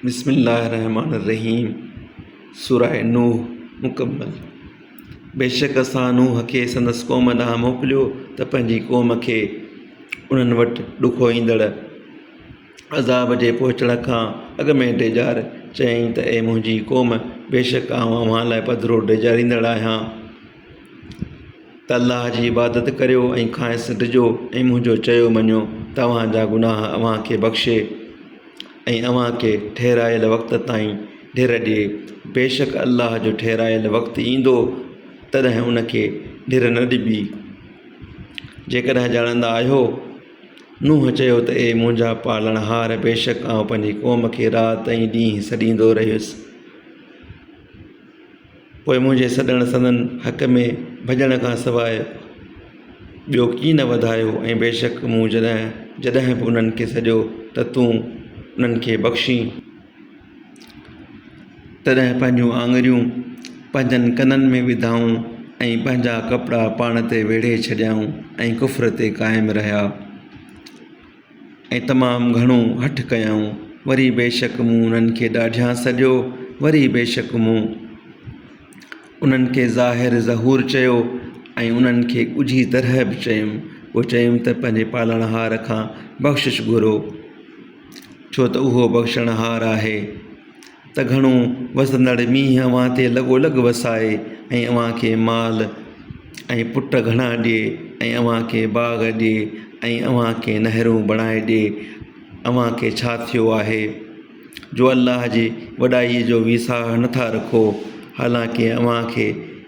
بسم الله الرحمٰن الرحيم سورة نوح مڪمل بيشڪ اسان نوح کي سندس قوم ڏانهن موڪليو ته پنهنجي قوم کي انهن وٽ ڏکو ايندڙ عذاب جي پهچڻ کان اڳ ۾ ڊيڄار چيائين ته اي منهنجي قوم بيشڪ آئون اوهان لاء پڌرو ڊيڄاريندڙ آهيان ته الله جي عبادت ڪريو ۽ کانئس ڊڄو ۽ منهنجو چيو مڃو توهان جا گناهه اوهان کي بخشي ۽ اوهان کي ٺهرايل وقت تائين ڍر ڏي بيشڪ الله جو ٺهرايل وقت ايندو تڏهن ان کي ڍر نه ڏبي جيڪڏهن ڄاڻندا آهيو نوح چيو ته اي منهنجا پالڻهار بيشڪ آئون پنهنجي قوم کي رات ۽ ڏينهن سڏيندو رهيس پوء منهنجي سڏڻ سندن حق ۾ ڀڄڻ کان سواء ٻيو ڪي نه وڌايو ۽ بيشڪ مون جڏهن جڏهن به انهن کي سڏيو ته تون انهن کي بخشين تڏهن پنهنجون آڱريون پنهنجن ڪنن ۾ وڌائون ۽ پنهنجا ڪپڙا پاڻ تي ويڙهي ڇڏيائون ۽ ڪفر تي قائم رهيا ۽ تمام گهڻو هٺ ڪيائون. وري بيشڪ مون انهن کي ڏاڍيان سڏيو، وري بيشڪ مون انهن کي ظاهر ظهور چيو ۽ انهن کي ڳجهي طرح به چيم. پوء چيم ته پنهنجي پالڻهار کان بخشش گهرو، ڇو ته اهو بخشڻهار آهي. ته گهڻو وسندڙ مينهن اوهان تي لڳو لڳ وسائي ۽ اوهان کي مال ۽ پٽ گهڻا ڏئي ۽ اوهان کي باغ ڏئي ۽ اوهان کي نهرون بڻائي ڏئي اوهان کي ڇا ٿيو آهي جو الله جي وڏائي جو ويساهه نٿا رکو حالانڪه اوهان کي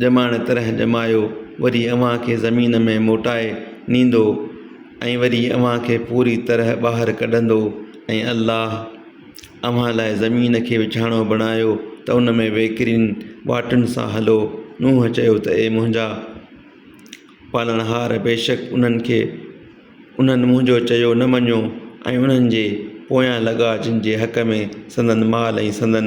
ڄمائڻ طرح ڄمايو وري اوهان کي زمين ۾ موٽائي نيندو ۽ وري اوهان کي پوري طرح ٻاهر ڪڍندو ۽ الله اوهان لاء زمين کي وڇاڻو بڻايو ته ان ۾ وهڪرين واٽن سان هلو نوح چيو ته اي منهنجا پالڻهار بيشڪ انهن کي انهن منهنجو چيو نه مڃيو ۽ انهن جي پويان لڳا جن جي حق ۾ سندن مال ۽ سندن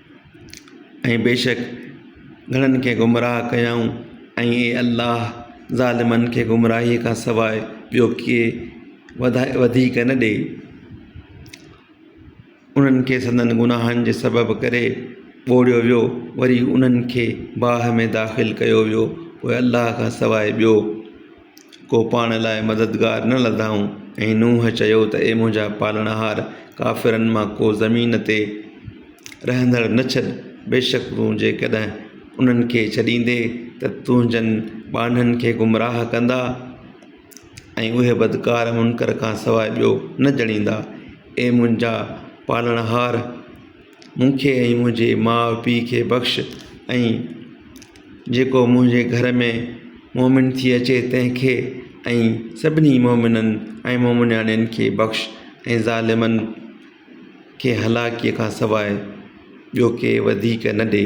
۽ بيشڪ گھڻن کي گمراھ ڪيائون ۽ اي الله ظالمن کي گمراھي کان سواء ٻيو ڪي وڌاء وڌيڪ نه ڏي انھن کي سندن گناھن جي سبب ڪري ٻوڙيو ويو وري انھن کي باھ ۾ داخل ڪيو ويو پوء الله کان سواء ٻيو ڪو پاڻ لاء مددگار نه لڌائون ۽ نوح چيو ته اي منهنجا پالڻهار! ڪافرن مان ڪو زمين تي رهندڙ نه ڇڏ، بيشڪ تون جيڪڏهن انهن کي ڇڏيندين ته تنهنجن ٻانهن کي گمراهه ڪندا ۽ اهي بدڪار منڪر کانسواء ٻيو نه ڄڻيندا، اي منهنجا پالڻهار! مون کي ۽ منهنجي ماء پيء کي بخش ۽ جيڪو منهنجي گهر ۾ مومن ٿي اچي تنهنکي ۽ سڀني مومنن ۽ مومنياڻين کي بخش ۽ ظالمن کي هلاڪي کان سواء ٻيو ڪي وڌيڪ نه ڏي